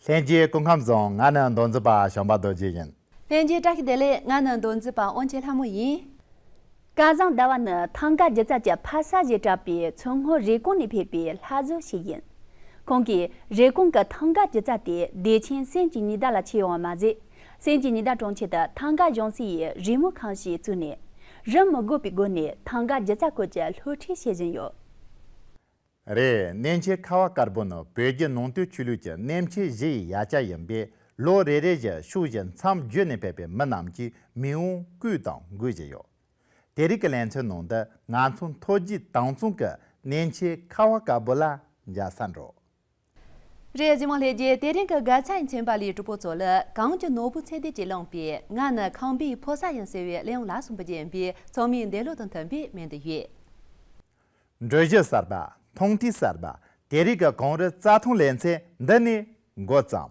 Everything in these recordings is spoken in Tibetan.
ལྷན་རྒྱས་སྐུ་ཁམས་བཟང་ང་ནི་མདོ་འཛིན་པ་ཞང་པ་རྡོ་རྗེ་ཡིན། ལྷན་རྒྱས་བཀྲ་ཤིས་བདེ་ལེགས་ང་ནི་མདོ་འཛིན་པ་དབོན་ཆེ་ལྷ་མོ་ཡིན། སྐལ་བཟང་ཟླ་བ་ནི་ཐང་ག་སྒྱུ་རྩལ་གྱི་ཕ་ས་ཞེས་གྲགས་པའི་མཚོ་སྔོན་རེབ་གོང་ནས་ཕེབས་པའི་ལྷ་བཟོ་ཞིག་ཡིན། ཁོང་གིས་རེབ་གོང་གི་ཐང་ག་སྒྱུ་རྩལ་དེ་བདེ་ཆེན་སེམས་ཀྱི་ཉི་ཟླ་ལ་ཆས་ཡོང་བ་མ་ཟད། སེམས་ཀྱི་ཉི་ཟླ་གྲོང་ཁྱེར་དུ་ཐང་ག་གཞུང་སྲིད་ཡིས་རི་མོ་ཁང་ཞིག་བཙུགས་ནས། རིམ་མི་དགོས་པའི་སྒོ་ནས་ཐང་ག་སྒྱུ་རྩལ་སྐོར་གྱི་སློབ་ཁྲིད་བྱེད་བཞིན་ཡོད། རེད་གནས་མཆེད་ཁ་བ་དཀར་པོ་ནི་བོད་བརྒྱུད་ནང་བསྟན་ཆོས་ལུགས་ཀྱི་གནས་མཆེད་བཞི་ཡི་ཡ་ཆ་ཡིན་པས་ལོ་རེ་རེ་བཞིན་ཕྱུག་བཞིན་མཚམས་བརྒྱུད་ནས་ཕེབས་པའི་མི་རྣམས་ཀྱིས་མི་འུ་གུས་དང་འགུལ་བཞིན་ཡོད། དེ་རིགས་ཀྱི་ལན་ཚོའི་ནང་དུ་ང་ཚོ་མཐོ་རྒྱུད་དྭངས་གཙང་གི་གནས་མཆེད་ཁ་བ་དཀར་པོ་ལ་འཇའ་ས་འབྲོག། རེས་གཟིགས་མ་ལྷས་རྒྱལ་དེ་རིང་གི་དགའ་ཚལ་མཚན་པ་ལའི་གྲུ་པོ་ཚོ་ལ་གངས་ཀྱི་ནོར་བུ་ཚད་ལྡན་གྱིས་བླངས་པས་ང་ནི་ཁང་པའི་ཕོ་གསར་ཡིན་ཟེར་བའི་གླེང་བ་ལ་སུན་པོ་རྒྱན་པའི་ཚོགས་མིའི་འདས་ལོ་དང་མཐུན་པའི་སྨན་དུ་ཡོད། འགྲུལ་བཞུད་གསར་པ། མཐོང་ཐོས་གསར་པ། དེ་རིང་གི་གངས་རི་རྩྭ་ཐང་ལས་མཚན་འདི་ནས་འགོ་བརྩམས།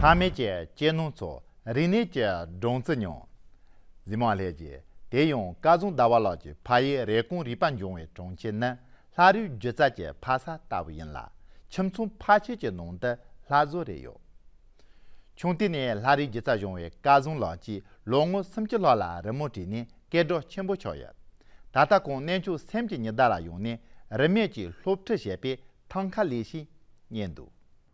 ཐ་མལ་གྱི་གཅེས་ནོར་ཚོ་རིག་གནས་ཀྱི་སྦྲང་རྩི་མྱོང། གཟིགས་མ་ལྷས་ཀྱིས་དེ་ཡང་བཀའ་བཟང་ཟླ་བ་ལགས་ཀྱི་ཕ་ཡི་རེ་སྐོང་རིག་པ་འབྱུང་བའི་གྲོང་ཁྱེར་ནི་ལྷ་རུའི་སྒྱུ་རྩལ་གྱི་ཕ་ས་ལྟ་བུ་ཡིན་ལ་ཁྱིམ་ཚང་ཕ་ཁྱིས་ཀྱི་ནང་དུ་ལྷ་བཟོ་རེ་ཡོད། ཆུང་དུས་ནས་ལྷ་རུའི་སྒྱུ་རྩལ་སྦྱོང་བའི་བཀའ་བཟང་ལགས་ཀྱིས་ལོ་ངོ་སུམ་ཅུ་ལྷག་ལ་རི་མོ་བྲིས་ནས་སྐད་སྒྲོག་ཆེན་པོ་ཆགས་ཡོད། ད་ལྟ་ཁོང་གནས་མཆོག་སེམས་ཀྱི་ཉི་ཟླ་ལ་ཡོང་ནས་རིན་མེད་ཀྱི་སློབ་ཁྲིད་བྱེད་པའི་ཐང་ཁ་ལས་ཤིག་རྙེད་འདུག།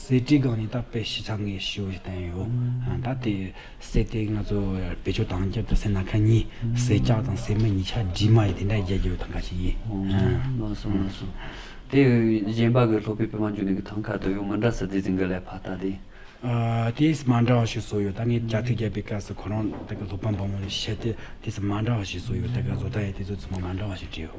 གསེར་བྲིས་སྒང་ནས་བཏབ་པའི་ཞི་ཚགས་ངེས་ཞུ་བའི་བསྟན་ཡོད། ད་དེ་གསེར་དེ་ང་ཚོ་བེད་སྤྱོད་དང་རྒྱབ་ཏུ་གསེར་སྣ་ཁ་གཉིས་གསེར་སྐྱག་དང་གསེར་མ་གཉིས་ཆ་བྲིས་མ་ཡིས་དེ་འདྲ་རྒྱལ་རྒྱལ་བའི་ཐང་ཀ་ཞིག་ཡིན། མ་སོང་མ་སོང། དེ་གཞན་པ་གི་ལྷོ་པའི་པདྨ་འབྱུང་གནས་གི་ཐང་ཀ་དོ་ཡོ་མི་འདྲ་ས་དེ་ཟིང་གི་ལས་ཕ་ད་དེ། དེ་ས་མ་འདྲ་བ་ཞིག་བཟོ་ཡོད་ད་ངས་རྒྱ་ཐུག་རྒྱབ་པའི་སྐབས་སུ་ཁོ་རང་ད་གི་ལྷོ་པ་འབངས་མོ་ལ་བཤད་དེ་དེ་ས་མ་འདྲ་བ་ཞིག་བཟོ་ཡོད་ད་གི་བཟོ་ད་ཡས་དེ་ཚོ་ཚོ་མ་མ་འདྲ་བ་ཞིག་བྲིས་ཡོད།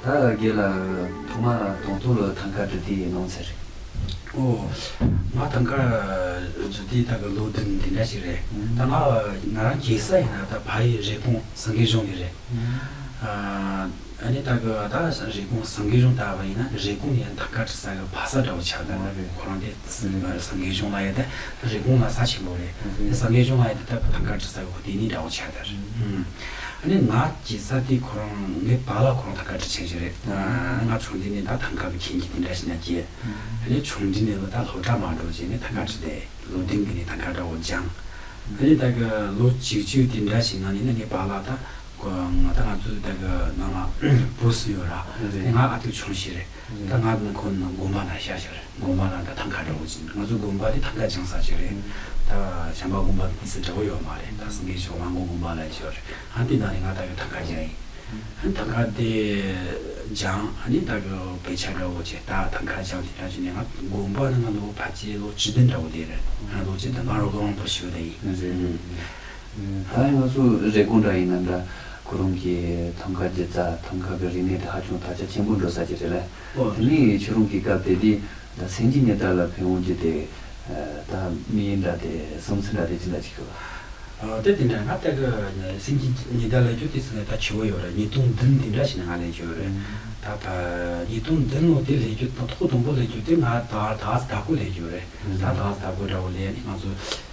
ད་གེ་ལ་ཐོག་མ་དང་ཐུག་ལོ་ཐང་ཁ་རྫུ་ཏི་ཡི་ནང་ཚེ་རེད། ཨོ། ང་ཐང་ཁ་རྫུ་ཏི་དག་གི་ལོ་བདུན་དེ་འདྲ་ཞིག་རེད། ད་ང་རང་གེ་སར་ཡིན་ན་ད་བ་ཡི་རེ་སྐོང་ཟང་གེ་གཞུང་གི་རེད། ཨ་ནི་ད་གི་བ་ད་རེ་སྐོང་ཟང་གེ་གཞུང་ད་བ་ཡིན་ན་རེ་སྐོང་ཡིན་ན་ཐང་ཁ་ཏྲི་ས་གི་བ་ས་འདྲ་བོ་ཆགས་ད་རེད་ཁོ་རང་དེ་ཟང་གེ་གཞུང་ལ་ཡོད་ད་རེ་སྐོང་ལ་ས་ཆེན་པོ་རེད། ཟང་གེ་གཞུང་ལ་ཡོད་ད་ད་བ་ཐང་ཁ་ཏྲི་ས་གི་བ་དེ་གཉིས་འདྲ་བོ་ཆགས་ད། ཨ་ནི་ང་ཀྱི་ས་དེའི་ཁོ་རང་ངའི་བ་ལ་ཁོ་རང་ད་བཀའ་དྲི་བྱེད་ཀྱི་རེད་ཨ་ང་ཆུང་དུས་ནས་ད་ཐང་ག་བུ་ཁྱེད་ཀྱིས་དེ་འདྲ་བྱས་ན་ཀྱེ་ཨ་ནི་ཆུང་དུས་ནས་ལོ་ད་ལོ་གྲ་མ་འགྲོ་བྱས་ནས་ད་བཀའ་དྲི་དེ་ལོ་བདུན་གྱི་ནས་ད་ག་འདྲ་བོ་སྦྱང་ཨ་ནི་ད་གི་ལོ་གཅིག་བཅུའི་དེ་འདྲ་བྱས་ན་ནི་ད་ངའི་བ་ལ་ད་ང་ད་ང་ཚོའི་ད་གི་ནང་ལ་བུ་སུ་ཡོད་ར་ང་ཨ་ཐུག་ཆུང་ཞིག་རེད། ད་ང་དགོན་ཁོ་ན་དགོན་པ་ན་ཤར་ཤོས་རེད་དགོན་པ་ན་ད་ཐང་ཁ་འདྲ་བོ་ཅིག་ང་ཚོ་དགོན་པ་དེ་ཐང་ཁ་བྱང་ས་ཅིག་རེད་ད་བྱང་པ་དགོན་པ་དང་དེ་ཚོ་འདྲ་བོ་ཡོད་མ་རེད་ད་སེང་གེ་ཆོས་གླང་དགོན་དགོན་པ་ལ་ཤོར་རེད་ཧན་དེ་ན་རེད་ང་ད་གི་ཐང་ཁ་བྱང་ཡིན་ཧན་ཐང་ཁ་དེ་བྱང་ཧན་ནི་ད་གི་བོད་ཆ་འདྲ་བོ་ཅིག་ད་ཐང་ཁ་བྱང་དེ་ད་ཅི་ནས་ང་དགོན་པ་ན་ང་ལོ་བ་ཅི་ལོ་བཅུ་བདུན་འདྲ་བོ་དེ་རེད་ང་ལོ་བཅུ་དང་ང་རོ་གང་ལོ་འཁོར་ཞོལ་དེ་ཡིན། ད་ཡང་ང་ཚོ་རེ་སྒུག་འདྲ་ཡིན་ནམ་འདྲ། ཁོ་རང་གི་ཐམ་ག་རྗེ་ཙཱ་ཐམ་ག་གི་རིག་གནས་དེ་ཧ་ཅང་དར་ཆ་ཆེན་པོ་འགྲོ་ས་ཅིག་རེད་ལ། དེ་ནི་ཁྱེད་རང་གིས་སྐབས་དེ་དུས་མཚན་གྱི་གནས་སྟངས་ལ་ཕན་འོང་རྒྱུ་དེ། ད་མི་ཡི་འདྲ་དེ་བསམ་ཚུལ་འདྲ་དེ་ཅི་འདྲ་བྱེད་དགོས་པ། དེ་དེ་འདྲ་ང་ལྟ་གི་ནི་སེམས་ཀྱི་ཉི་ཟླ་ལས་ཀྱང་དུས་ཚོད་ལས་ད་ཆུ་བོ་ཡོད་རེད་ཉིས་སྟོང་བདུན་དེ་འདྲ་ཞིག་ནས་ང་ལས་ཀྱི་ཡོད་རེད། ད་ད་ཉིས་སྟོང་བདུན་ལོ་དེ་ལས་ཀྱི་ཐོག་དང་པོ་ལས་ཀྱི་དུས་ང་ད་ད་ཟླ་དགུ་ལས་ཀྱི་ཡོད་རེད། ད་ད་ཟླ་དགུ་འདྲ་བོ་ལས་ནི་ང་ཚོ།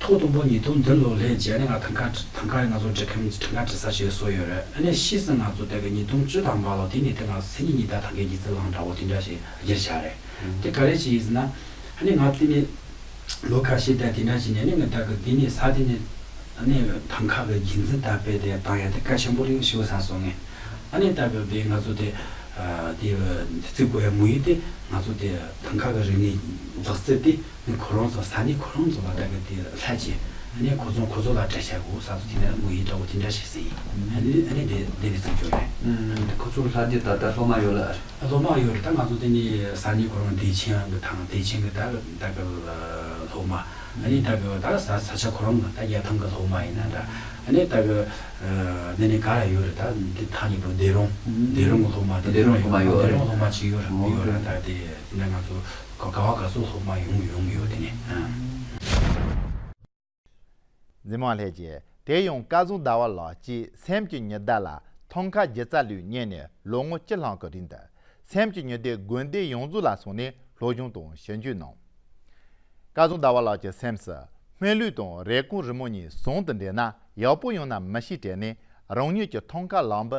ཐོག་དང་པོ་ཉིས་སྟོང་བདུན་ལོ་ལྷན་རྒྱས་ནས་ང་ཐང་ཁ་ཐང་ཁ་རེད་ང་ཚོ་འབྲི་ཁམ་ཐང་ཁ་འབྲི་ས་ཞེས་གསུངས་ཡོད་རེད་ཨ་ནས་ཤི་ཟིན་ང་ཚོ་དེ་ག་ཉིས་སྟོང་བཅུ་དང་པ་ལོ་དེ་ནས་དེ་ང་ཚོ་མཚན་ཉིད་ཉི་ཟླ་ཐང་ཁའི་ཉི་ཟེར་ལངས་འདྲ་བོ་དེ་འདྲ་ཞིག་སྒྱེར་བྱ་རེད་དེ་ག་རེད་ཅེས་ཡིན་ཟིན་ན་ཨ་ནས་ང་དེ་ནས་ལོ་ཁ་ཤས་བསྡད་དེ་འདྲ་བྱས་ནས་ཨ་ནས་ང་ད་གི་དེ་ནས་ས་དེ་ནས་ཨ་ནས་ཐང་ཁ་གི་རྒྱུན་འཛིན་དར་སྤེལ་དེ་བཏང་ཡ་དེ་ཀ་ཆེན་པོ་རིང་ཞིག་ས་སོང་ངས་ཨ་ནས་ད་གི་དེ་ང་ཚོ་དེ་དེ་བརྩི་དགོས་ཡ་མི་ཡོད་དེ་ང་ཚོ་དེ་ཐང་ཁ་གི་རིག་གནས་རྫོགས་རྩིས་དེ། ནས་གོ་རོང་ཚོ་ས་ནས་གོ་རོང་ཚོ་ལ་དགའ་གི་དེ་ལྷ་རྗེ་ནས་གོ་ཚོང་གོ་ཚོ་ལ་དྲ་བྱ་གོ་ས་ཚོ་དེ་ནས་མོ་ཡི་དྲ་བོ་དེ་འདྲ་བྱེད་སྲིད་ཨ་ནས་དེ་དེ་བས་ཚིག་འཇོག་རེད། ཁོ་ཚོ་ལྷ་རྗེ་ད་ལྟ་ལྷོ་མ་ཡོད་ལ་ཨ་རེད། ལྷོ་མ་ཡོད་རེད་ད་ང་ཚོ་དེ་ནས་ས་ནས་གོ་རོང་བདེ་ཆེན་གི་ཐང་བདེ་ཆེན་གི་ད་གི་ད་གི་ལྷོ་མ་ཨ་ནས་ད་གི་ད་ས་ས་ཆ་གོ་རོང་གི་ད་རྒྱལ་ཐང་གི་ལྷོ་མ་ཡིན་ན་འདྲ་ཨ་ནས་ད་གི་དེ་ནས་ག་ར་ཡོད་རེད་ད་དེ་ཐང་གཉིས་པོ་བདེ་རོང་བདེ་རོང་གི་ལྷོ་མ་བདེ་རོང་གི་ལྷོ་མ་ཡོད་རེད་བདེ་རོང་གི་ལྷོ་མ་གཅིག་ཡོད་རེད་ཡོད་རེད་ད་དེ་དེ་འདྲ་ང་ཚོ། ག་བ་ག་སོ་སོ་མ་ཡོང་ཡོང་ཡོད་དེ་ནས། འཛིན་མ་ལྷས་ཀྱིས་དེ་ཡང་བཀའ་ཟུང་ཟླ་བ་ལགས་ཀྱིས་སེམས་ཀྱི་ཉི་ཟླ་ལ་ཐང་ཁ་རྒྱལ་རྩ་ལུས་རྙེད་ནས་ལོ་ངོ་བཅུ་ལྷག་གི་རིང་དུ་སེམས་ཀྱི་ཉི་ཟླའི་དགོན་སྡེ་ཡོངས་རྫོགས་ལ་སོང་ནས་སློབ་སྦྱོང་དང་ཞིབ་འཇུག་གནང། བཀའ་ཟུང་ཟླ་བ་ལགས་ཀྱི་སེམས་སུ་སྨན་ལུས་དང་རེ་སྐོང་རི་མོ་གཉིས་ཟུང་དུ་འབྲེལ་ན་ཡག་པོ་ཡོང་ན་མི་ཤེས་དྲན་ནས་རང་ཉིད་ཀྱི་ཐང་ཁ་ལག་འབུ་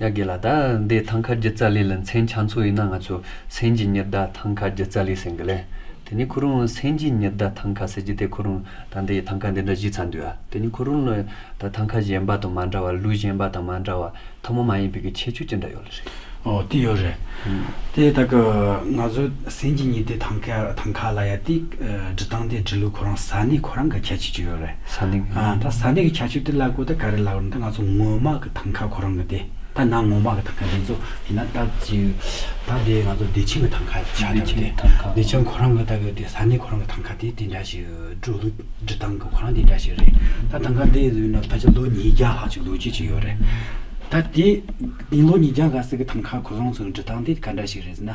ཡ་དགེ་ལ་ད་ལྡེ་ཐང་ཁ་རྒྱུ་ཙ་ལི་ལ་མཚན་ཆ་མཚོ་ཡིན་ན་ང་ཚོ་སེན་རྒྱི་ཉི་ཟླ་ཐང་ཁ་རྒྱུ་ཙ་ལི་ཟེར་གི་ལེ། དེ་ནི་ཁོ་རང་ལ་སེན་རྒྱི་ཉི་ཟླ་ཐང་ཁ་ཟེར་རྒྱུ་དེ་ཁོ་རང་ད་ལྡེ་ཡི་ཐང་ཁ་འདི་འདྲ་གཞི་ཚ་འདུག་ཨ། དེ་ནི་ཁོ་རང་ལ་ད་ཐང་ཁ་གཞན་པ་དང་མ་འདྲ་བར་ལུས་གཞན་པ་དང་མ་འདྲ་བར་ཐུར་མ་མ་ཡིན་པའི་གི་ཁྱད་ཆོས་ཅི་འདྲ་ཡོད་ལ་རེད། འོ་དེ་ཡོད་རེད། དེ་ད་ཀ་ང་ཚོ་སེམས་ཀྱི་ཉི་ཟླའི་ཐང་ཀ་ཐང་ཁ་ལ་ཡ་ཏི་འབྲི་སྟངས་དེ་འབྲི་ལུགས་ཁོ་རང་ས་ནི་ཁོ་རང་གི་ཁྱད་ཆོས་ཅིག་ཡོད་རེད། ས་ནི་གི། ད་ས་ནི་གི་ཁྱད་ཆོས་དེ་ལ་གོ་ད་ག་རེ་ལབ་རུང་ད་ང་ཚོ་ངོ་མ་གི་ཐང་ཁ་ཁོ་རང་གི་དེ་ད་ནང་ངོ་མ་གི་ཐང་ཁ་དེ་ཚོ་ཡིན་ན་ད་ཅི་ད་དེ་ང་ཚོ་བདེ་ཆེན་གི་ཐང་ཁ་ཆགས་ཐབས་བདེ་ཆེན་ཐང་ཁ། བདེ་ཆེན་ཁོ་རང་གི་ད་གི་དེ་ས་ནི་ཁོ་རང་གི་ཐང་ཁ་དེ་དེ་འདྲ་ཞིག་འབྲུ་ལུགས་འབྲི་སྟངས་གི་ཁོ་རང་དེ་འདྲ་ཞིག་རེད་ད་ཐང་ཁ་དེ་ཡིན་ན་ད་ཆ་ལོ་ཉིས་བརྒྱ་ལྷག་ཅིག་ལོ་རྒྱུས་ཅིག་ཡོད་རེད། ད་དེ་ལོ་ཉིས་བརྒྱ་ག་ཟེར་གི་ཐང་ཁ་ཁོ་རང་ཚོའི་འབྲི་སྟངས་དེ་ག་འདྲ་ཞིག་རེད་ཟེར་ན་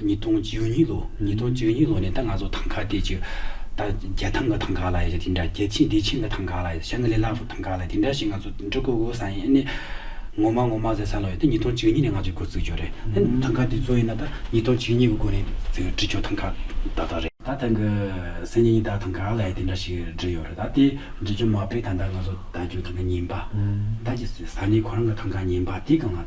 ཉིས་སྟོང་བཅུ་གཉིས་ལོ་ཉིས་སྟོང་བཅུ་གཉིས་ལོ་ནས་ད་ང་ཚོ་ཐང་ཁ་བསྡད་ཅིག། ད་རྒྱལ་ཐང་གི་ཐང་ཁ་ལ་ཡོད་དེ་འདྲ་རྒྱལ་ཆེན་བདེ་ཆེན་གྱི་ཐང་ཁ་ལ་ཡོད་ཞང་ལི་ལགས་སུ་ཐང་ཁ་ལ་ཡོད་དེ་འདྲ་ཞིག་ང་ཚོ་འབྲི་དགོས་དགོས་ས་ཡིན་ཨ་ནས། ངོ་མ་ངོ་མ་ཟེར་ས་ལ་ཡོད་དེ་ཉིས་སྟོང་བཅུ་གཉིས་ནས་ང་ཚོས་སྒོ་བརྩིགས་རྒྱུ་རེད་ཨ་ནས་ཐང་ཁ་དེ་ཚོ་ཡིན་ན་ད་ཉིས་སྟོང་བཅུ་གཉིས་ཀྱི་སྒོ་ནས་བརྩིགས་འབྲི་རྒྱུ་ཐང་ཁ་ད་ལྟ་རེད། ད་ཐང་གི་སེམས་ཉིད་ད་ཐང་ཁ་ལ་ཡོད་དེ་འདྲ་ཞིག་འབྲི་ཡོད་རེད་ད་དེ་འབྲི་རྒྱུ་མ་སྤེལ་ཐང་ད་ང་ཚོ་ད་རྒྱུ་ཐང་ག་ཉིན་པ་ད་ཀྱི་ས་གནས་ཁོ་རང་གི་ཐང་ཁ་ཉིན་པ་དེ་གང་ལ།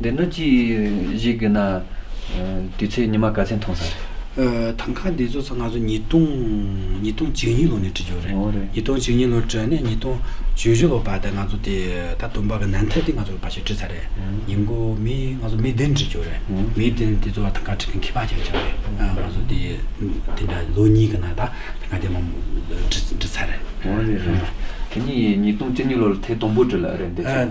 འདི་ནི་ཅི་ཞིག་གི་ན། དུས་ཚོད་ཉི་མ་ག་ཚད་མཐོང་ས་རེད། ཐང་ཁ་འདི་བཟོ་ས་ང་ཚོ་ཉིས་སྟོང་ཉིས་སྟོང་བཅུ་གཉིས་ལོ་ནས་བྲིས་འོ་ཡོད་རེད་རེད། ཉིས་སྟོང་བཅུ་གཉིས་ལོར་བྲིས་ནས་ཉིས་སྟོང་བཅུ་བཞི་ལོར་བར་དེ་ང་ཚོ་དེ་ད་དུམ་པ་གི་ནན་ཐེ་དེ་ང་ཚོ་བར་ཞིག་བྲིས་ཚར་རེད། ཉིན་མགོ་མི་ང་ཚོ་མི་བདུན་བྲིས་འོ་རེད། མི་བདུན་དེ་ཚོ་བ་ཐང་ཁ་བྲིས་མཁན་ཁྱི་ཕག་ཅིག་བྱུང་རེད། ང་ཚོ་དེ་དེ་འདྲ་ལོ་གཉིས་གི་ནང་ད་ཐང་ཁ་དེ་མང་པོ་བྲིས་བྲིས་ཚར་རེད། འོ་རེད་རེད། དེ་ནི་ཉིས་སྟོང་བཅུ་གཉིས་ལོར་ཐེ་དུམ་བུ་བྲིས་ལ་རེད་འདི་ཚོ།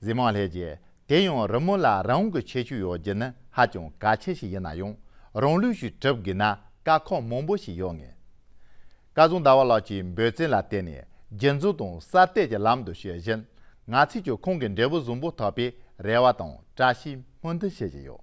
གཟིགས་མང་ལྷས་ཀྱིས་དེ་ཡང་རི་མོ་ལ་རང་གི་ཁྱད་ཆོས་ཡོད་རྒྱུ་ནི་ཧ་ཅང་གལ་ཆེ་ཞིག་ཡིན་ན་ཡང་རང་ལུས་ཤིག་གྲུབ་དགོས་ན་དཀའ་ཁག་མང་པོ་ཞིག་ཡོད་ངེས། སྐལ་བཟང་ཟླ་བ་ལགས་ཀྱིས་འབོད་བརྩོན་ལ་བརྟེན་ནས་རྒྱུན་འཛུགས་དང་གསར་གཏོད་ཀྱི་ལམ་དུ་བྱེད་བཞིན་ང་ཚོས་ཀྱང་ཁོང་གི་འབྲས་བུ་བཟང་པོ་ཐོབ་པའི་རེ་བ་དང་བཀྲ་ཤིས་སྨོན་འདུན་བྱེད་བཞིན་ཡོད།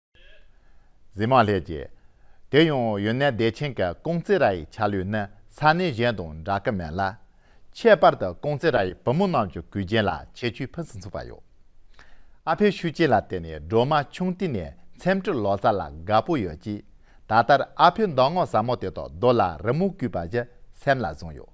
གཟིགས་མ་ལྷས་ཀྱིས། དེ་ཡང་ཡོན་ནན་བདེ་ཆེན་གྱི་ཀོང་ཙེ་ར་ཡི་ཆ་ལུགས་ནི་ས་གནས་གཞན་དང་འདྲ་གི་མེད་ལ། ཁྱད་པར་དུ་ཀོང་ཙེ་ར་ཡི་བུ་མོ་རྣམས་ཀྱི་གུས་རྒྱན་ལ་ཁྱད་ཆོས་ཕུན་སུམ་ཚོགས་པ་ཡོད། ཨ་ཕའི་ཤུགས་རྐྱེན་ལ་བརྟེན་ནས་སྒྲོལ་མ་ཆུང་དུས་ནས་འཚེམ་དྲུབ་ལོ་ཙཱ་ལ་དགའ་པོ་ཡོད་ཀྱིས་ད་ལྟར་ཨ་ཕའི་མདོག་སྔོ་ཟབ་མོ་དེ་དག་རྡོ་ལ་རི་མོ་བརྐུས་པ་བཞིན་སེམས་ལ་བཟུང་ཡོད།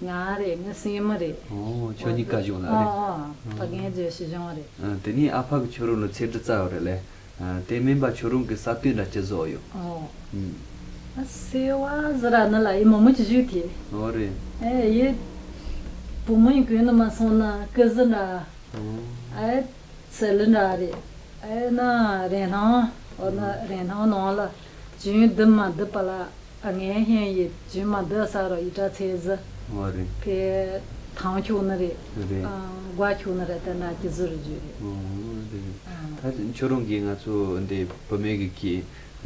ང་རེད་ནི་སྲས་མོ་རེད། ཨོ་ཁྱོད་གཉིས་ཀ་གཞུང་ལ་རེད། ཨོ་ཨོ་ཕ་རྒན་རྗེས་སུ་གཞུང་རེད། དེ་ནས་ཨ་ཕ་གི་ཆོས་རུང་ལ་ཚེ་འདི་རྩ་བ་རེད་ལེ། དེ་མིན་པ་ཆོས་རུང་གི་ས་བཏུས་འདྲ་ཅི་བཟོ་ཡོད། ཨོ། ཨ་སེ་བ་ཟི་ར་ནི་ལ་ཡི་མོ་མོ་ཀྱི་གཞུག་དེ། ཨོ་རེད། ཨེ་ཡི། བུ་མོ་ཡི་གོས་ནི་མ་སོང་ན་ཀི་ཟི་འདྲ། ཨོ། ཨེ་ཚེ་ལི་འདྲ་རེད། ཨེ་ན་རེན་སྣང། ཨོ་ན་རེན་སྣང་ནང་ལ། རྒྱུན་བསྡུ་མ་བསྡུ་པ་ལ་ངན་ཤན་ཡོད་རྒྱུན་མ་བསྡུ་ས་རུ་ཡི་དྲ་ཚེ་བཟི། ཨོ་རེད། དེ་ཐང་ཁྱུག་ནི་རེད། རེད། སྒོ་ཁྱུག་ནི་རེད་དེ་འདྲ་གི་བཟོ་རུ་རྒྱུ་རེད། ཨོ་རེད། ད་ཆ་ཁྱོད་རང་གིས་ང་ཚོ་འདི་བོད་མི་གི་གི་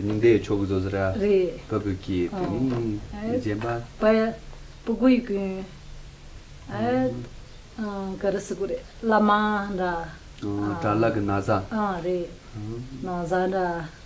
ཉིན་དེ་ཡི་ཕྱོགས་གི་བཟོ་ས་ར། རེད། བོད་བོད་གི་དེ་ནི་རྗེན་པ། པ་ཡི་པུ་གུ་ཡི་གུན། ག་རི་སི་གུ་རེད་བླ་མ་འདྲ། ཨོ་གྲ་ལག་གི་ན་བཟའ། ཨོ་རེད། ན་བཟའ་འདྲ།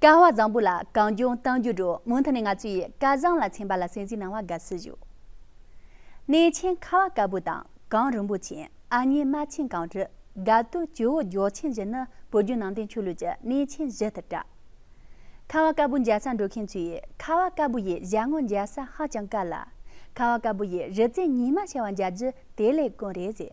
བསྐལ་བ་བཟང་པོ་ལ་གང་བྱུང་གཏམ་རྒྱུད་དྲུག་མུ་མཐུད་ནས་ང་ཚོ་ཡི་བསྐལ་བཟང་ལ་ཚན་པ་ལ་སེམས་གཟིགས་གནང་བ་དགའ་བསུ་ཞུ། གནས་ཆེན་ཁ་བ་དཀར་པོ་དང་གངས་རིན་པོ་ཆེན་ཨ་མྱེས་རྨ་ཆེན་གངས་རི་དགའ་སྟོད་ཇོ་བོ་སྒྱོགས་ཆེན་བཞི་ནི་བོད་བརྒྱུད་ནང་བསྟན་ཆོས་ལུགས་ཀྱི་གནས་ཆེན་བཞི་ལྟར་གྲགས། ཁ་བ་དཀར་པོ་འཇའ་ས་འགྲོ་མཁན་ཚོས་ཡི་ཁ་བ་དཀར་པོ་ཡི་བཞད་ངོ་འཇའ་ས་ཧ་ཅང་དཀར་ལ། ཁ་བ་དཀར་པོ་ཡི་རི་རྩེ་ཉི་མ་ཆེ་བ་འཇའ་རྒྱུ་དེ་ལས་དཀོན་རེད་ཟེར།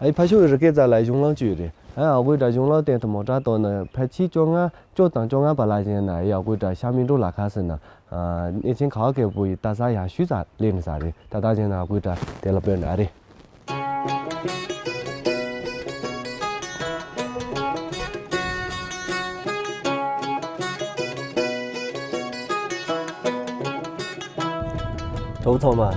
ཨ་ཡེ་ཕ་ཤུལ་བའི་རི་སྐེད་རྩ་ལ་གཞུང་གླང་བཅུ་ཡོད་རེད། ཨ་ཡེ་ཨ་དགོའི་སྒྲ་གཞུང་གླང་སྟེང་དུ་མོ་བྲག་བཏོད་ན་ཕལ་ཆེར་བཅོ་ལྔ་བཅོ་དང་བཅོ་ལྔ་པ་ལ་བཞེངས་ན་ཨ་ཡེ་ཨ་དགོའི་སྒྲ་ཤར་མི་འགྲོ་ལ་ཁ་སེར་ན་གནས་ཆེན་ག་བ་སྐལ་པོ་ཡི་རྟ་ས་ཡ་ཤུལ་ས་ལས་མི་ཟ་རེད་ད་ལྟ་བཞེངས་ན་ཨ་དགོའི་སྒྲ་དེ་ལ་པོད་འདྲ་རེད། གྲོགས་ཚང་མ།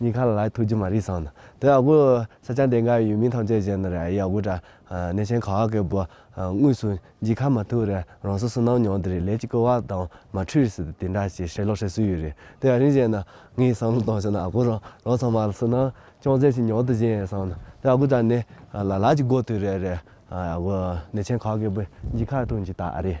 ཉིན་ཁ་ལ་ལ་ཐུག་རྒྱུ་མ་རེད་བསམ། དེ་ཨ་ཁུ་ས་ཆ་འདི་འགའ་ཡུལ་མིང་ཐམས་ཅད་བཞེངས་ནས་རེད་ཨ་ཡེ་ཨ་ཁུ་དྲ་གནས་ཆེན་ཁ་བ་ཀའི་བུ། དངོས་སུ་འཇིགས་ཁ་མ་ཐུག་རེད་རང་སོ་སོ་ནང་མྱོང་དེ་རེད་ལས་ཀྱི་སྐུ་བ་དང་མ་འཁྲུལ་སྲིད་དེ་འདྲ་ཞེས་ཧྲེ་ལོག་ཧྲེ་སུ་ཡོད་རེད་དེ་ཨ་རིན་བཞེངས་ན་ངའི་བསམ་བློ་བཏང་ཞོག་ན་ཨ་ཁུ་རང་རང་ཚང་མ་སུ་ནང་ཅུང་ཟད་ཞིག་མྱོང་དུ་བཞེངས་ཡོད་བསམ། དེ་ཨ་ཁུ་དྲ་གནས་ལ་ལ་ཀྱི་སྒོ་དུས་རེད་རེད་ཨ་ཁུ་གནས་ཆེན་ཁ་བ་ཀའི་བུ་འཇིགས་ཁ་ཐུག་འཇིགས་ད་ཨ་རེད།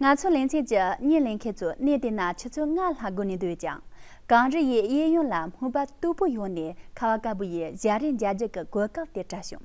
ང་ཚོ་ལེན་ཚེ་ཇི་སྙེད་ལེན་མཁན་ཚོ་གནས་དེ་ན་ཆུ་ཚོད་ལྔ་ལྷག་སྒུག་ནས་སྡོད་ཅིང། གངས་རི་ཡི་གཡས་གཡོན་ལ་སྨུག་པ་སྟུག་པོ་ཡོང་ནས་ཁ་བ་དཀར་པོ་ཡིས་བཞག་རེས་འཇའ་འཇུག་གི་གོ་སྐབས་དེ་བཀྲ་བྱུང།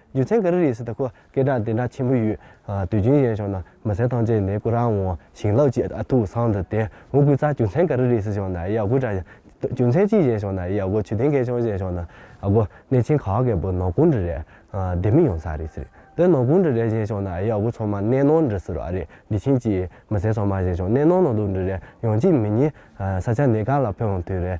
རྒྱུ་མཚན་ག་རེ་རེད་ཟེར་ད་ཁོ་སྐད་གྲགས་དེ་འདྲ་ཆེན་པོ་ཡོད་དུས་རྒྱུན་གཞན་ཕྱོགས་ན་མི་སེར་ཐམས་ཅད་ནས་སྐུ་རང་དབང་བྱིན་རླབས་ཀྱི་ཨ་ཐུག་སང་འདི་དེ་འུ་གུ་ཚ་རྒྱུ་མཚན་ག་རེ་རེད་ཟེར་ཕྱོགས་ན་ཡ་གུ་དྲ་རྒྱུ་མཚན་གཅིག་གཞན་ཕྱོགས་ན་ཡ་གུ་ཆུ་ཐེངས་གལ་ཆུང་གཞན་ཕྱོགས་ན་ཨ་གུ་གནས་ཆེན་ག་གེ་པོ་ནང་ཁུང་འདྲི་རེད་སྡེ་མི་ཡོང་ས་རེད་ཟེར་དེ་ནང་ཁུང་འདྲི་རེད་གཞན་ཕྱོགས་ན་ཡ་གུ་ཚང་མ་གནས་ནང་འདྲི་ཟེར་བ་རེད་འདི་ཕྱིན་ཅི་མི་སེར་ཚང་མ་གཞན་ཕྱོགས་གནས་ནང་ནང་དུ་འདྲི་རེད་ཡང་གཅིག་མི་གཉིས་ས་ཆ་གནས་གང་ལ་ཕེབས་འོང་དུས་རེད།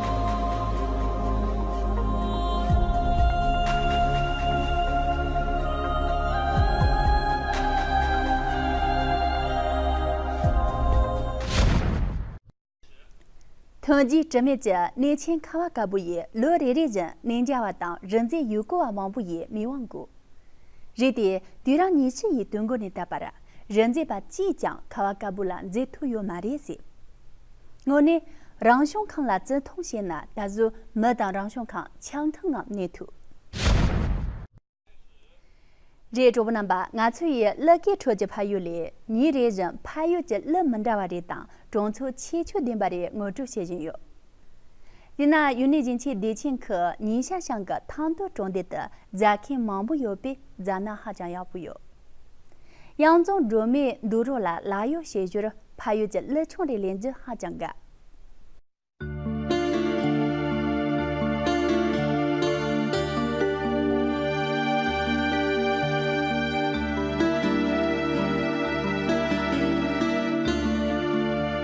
ཐོན་རྗེས་དྲི་མེད་ཀྱི་གནས་ཆེན་ཁ་བ་དཀར་པོ་ཡིས་ལོ་རེ་རེ་བཞིན་གནས་འཇའ་བ་དང་རི་འཛེག་ཡུལ་སྐོར་བ་མང་པོ་ཡི་མིག་དབང་བཀུག། རི་དེས་དུས་རང་ཉིད་ཕྱི་ཡི་དུས་འགོ་ནས་བཏབ་པར། རི་འཛེགས་པ་ཅིས་ཀྱང་ཁ་བ་དཀར་པོ་ལ་འཛེགས་ཐུབ་ཡོད་མ་རེད་ཟེར། དངོས་གནས། རང་བྱུང་ཁམས་ལ་བརྩི་མཐོང་བྱས་ན་ད་གཟོད་མི་དང་རང་བྱུང་ཁམས་ཆང་ཐུང་ངམ་གནས་ཐུབ། རེད་གྲོགས་པོ་རྣམ་པ་ང་ཚོ་ཡི་གླུ་སྐད་ཁྲོད་ཀྱི་ཕ་ཡུལ་ལས་ཉིན་རེ་བཞིན་ཕ་ཡུལ་གྱི་གླུ་མི་འདྲ་བ་རེ་དང་གྲོང་ཚོའི་ཁྱད་ཆོས་ལྡན་པ་རེ་ངོ་སྤྲོད་བྱེད་བཞིན་ཡོད། དེ་ན་ཡུལ་ནི་བཞིན་ཆའི་བདེ་ཆེན་གྱི་ཉིན་ཤར་ཤང་གི་ཐང་སྟོད་གྲོང་སྡེ་དུ་རྫ་ཁེངས་མང་པོ་ཡོད་པས་རྫ་སྣ་ཧ་ཅང་ཡག་པོ་ཡོད། གཡང་རྫོང་སྒྲོལ་མས་འདུག་རོགས་ལ་ལག་གཡོག་བྱེད་ཞོར་ཕ་ཡུལ་གྱི་གླུ་ཆུང་རེ་ལེན་རྒྱུ་ཧ་ཅང་དགའ།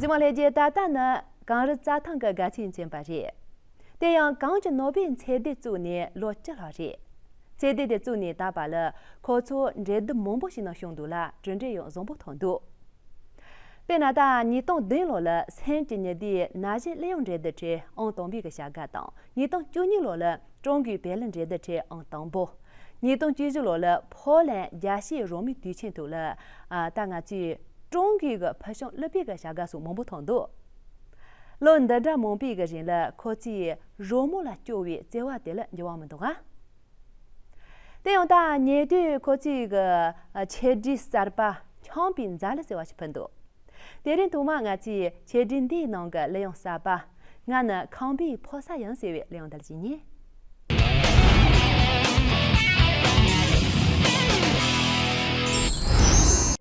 གཟིགས་མ་ལྷས་རྒྱལ་ད་ལྟ་ནི་གངས་རི་རྩྭ་ཐང་གི་དགའ་ཚལ་ཅན་པ་རེད། དེ་ཡང་གངས་ཀྱི་ནོར་བུའི་ཚལ་སྡེ་བཙུགས་ནས་ལོ་བཅུ་ལྷག་རེད། ཚལ་སྡེ་དེ་བཙུགས་ནས་ད་བར་ལ་ཁོ་ཚོ་འབྲེལ་བསྡུར་མང་པོ་བྱས་ནང་བྱུང་འདུག་ལ་གྲོས་འབྲས་ཡང་བཟང་པོ་ཐོན་འདུག། པའི་ན་ད་ཉིས་སྟོང་བདུན་ལོ་ལ་སེམས་ཀྱི་ཉི་ཟླའི་ན་གཞི་གླེ་ཡོང་འབྲས་དུ་ཁྲེ་ཨང་དང་པོའི་གི་བྱ་དགའ་དང་ཉིས་སྟོང་བཅུ་གཉིས་ལོ་ལ་ཀྲུང་གོའི་བལ་ལི་འབྲས་དུ་ཁྲེ་ཨང་དང་པོ། ཉིས་སྟོང་བཅུ་བཞི་ལོ་ལ་ཕོ་ལན་རྒྱ་ཤེས་རོང་མི་དུས་ཆེན་དུ་ལ་ད་ང་ཚོས་ཀྲུང་གོའི་གི་ཕུལ་བྱུང་གླུ་དཔེ་གི་བྱ་དགའ་སོགས་མང་པོ་ཐོན་འདུག་ལོ་འདི་འདྲ་མང་པོའི་གི་རིང་ལ་ཁོ་ཚོས་རོང་མོ་ལ་སྐྱོ་བའི་བརྩེ་བ་དེ་ལ་འགྱུར་བ་མི་འདུག་ཨ། དེ་ཡང་ཐ་སྙད་དུས་ཁོ་ཚོས་གི་ཆེད་བྲིས་གསར་པ་ཁྱང་པའི་མཛའ་ལི་ཟེར་བ་ཞིག་ཕུལ་འདུག་དེ་རིང་དུ་མ་ང་ཚོས་ཆེད་བྲིས་འདིའི་ནང་གི་གླུ་དབྱངས་གསར་པ་ང་ནི་ཁང་པའི་ཕོ་ས་ཡིན་ཟེར་བའི་གླུ་དབྱངས་འདི་བྲིས་ཉེ།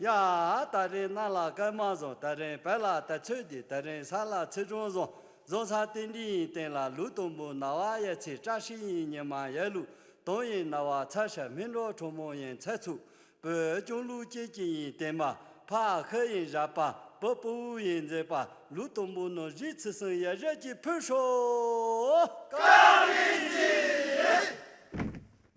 ཡ། ད་རེན་རྣ་ལ་སྐར་མ་བཟུང་ད་རེན་བལ་ལ་དར་ཚོད་རྒྱུ་ད་རེན་ས་ལ་ཚིལ་གྲོང་བཟུང་བཟུང་ས་སྟེ་འབྲི་ཡིན་སྟེང་ལ་ལུག་དུམ་བུ་ན་བ་ཡལ་ཚིལ་བཀྲ་ཤིས་ཡིན་ཉི་མ་ཡལ་ལུག་དོམ་ཡིན་ན་བ་ཚལ་ཤ་སྨིན་འབྲོག་ཁྲོ་མོ་ཡིན་ཚལ་ཚུགས་བོད་ལྕུང་ལུག་སྐྱེས་སྐྱིད་ཡིན་སྟེང་མ་ཕ་ཁི་ཡིན་བཞག་པ་བུ་སྤུ་བོ་ཡིན་མཛེས་པ་ལུག་དུམ་བུ་ནོར་བཞི་ཚིལ་སྲིན་ཡལ་ཞལ་གྱིས་ཕུལ་ཧྲོ། བཀའ་དྲིན་ཆེ།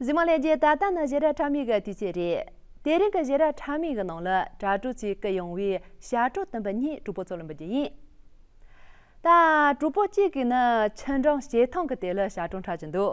གཞི་མ་ལས་རྒྱའི་ད་ལྟ་ནི་གཞི་ར་ཁྲ་མིག་གི་དུས་ཆད་རེད། དེ་རིང་གི་གཞི་ར་ཁྲ་མིག་གི་ནང་ལ་དྲ་གྲོགས་ཚོས་བསྐུལ་ཡོང་བའི་ཞྭ་གྲོགས་བསྟན་པ་གཉིས་གྲོགས་པོ་ཚོ་ལ་འབུལ་རྒྱུ་ཡིན། ད་གྲོགས་པོ་གཅིག་གིས་ནི་ཁྱི་འབྲང་བྱེ་ཐང་གི་དེ་ལ་ཞྭ་གྲོང་ཁྲ་བྱིན་འདུག་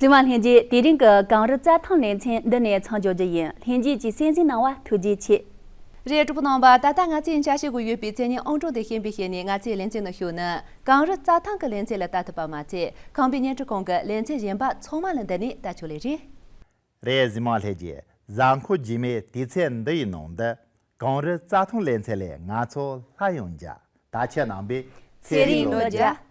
བཙུན་མ་ལྷན་རྒྱས་དེ་རིང་གི་གངས་རི་རྩྭ་ཐང་ལེ་ཚན་འདི་ནས་ཚང་འབྱོར་རྒྱུ་ཡིན་ལྷན་རྒྱས་ཀྱི་སྲས་གཟིགས་གནང་བ་ཐུགས་རྗེ་ཆེ། རས་དྲུག་གནང་བ་ད་ལྟ་ང་ཚོས་འཇགས་བྱེད་དགོས་ཡོད་པའི་མཚན་སྙན་ཨང་གྲངས་དེ་ཤེས་པའི་ཤེས་ནས་ང་ཚོས་ལེ་ཚན་ནང་ཞུགས་ན་གངས་རི་རྩྭ་ཐང་གི་ལེ་ཚན་ལ་ལྟ་ཐུབ་པ་མ་ཚད་ཁང་པའི་བརྙན་འཕྲིན་ཁང་གི་ལེ་ཚན་གཞན་པ་ཚང་མ་ལ་འདི་ནས་ལྟ་ཆོག་ལེ་རེད། རས་གཟི་མ་ལྷས་ཀྱི་གཟའ་འཁོར་རྒྱུས་མེད་དུས་ཚད་འདི་ཡི་ནང་དུ། གངས་རི་རྩྭ་ཐང་ལས་ཚད་ལས་ང་ཚོ་ལྷ་ཡང་འཇའ་དག་ཁྱེད་རྣམས་པའི་ཚེ་རིང་ལོ་བརྒྱ།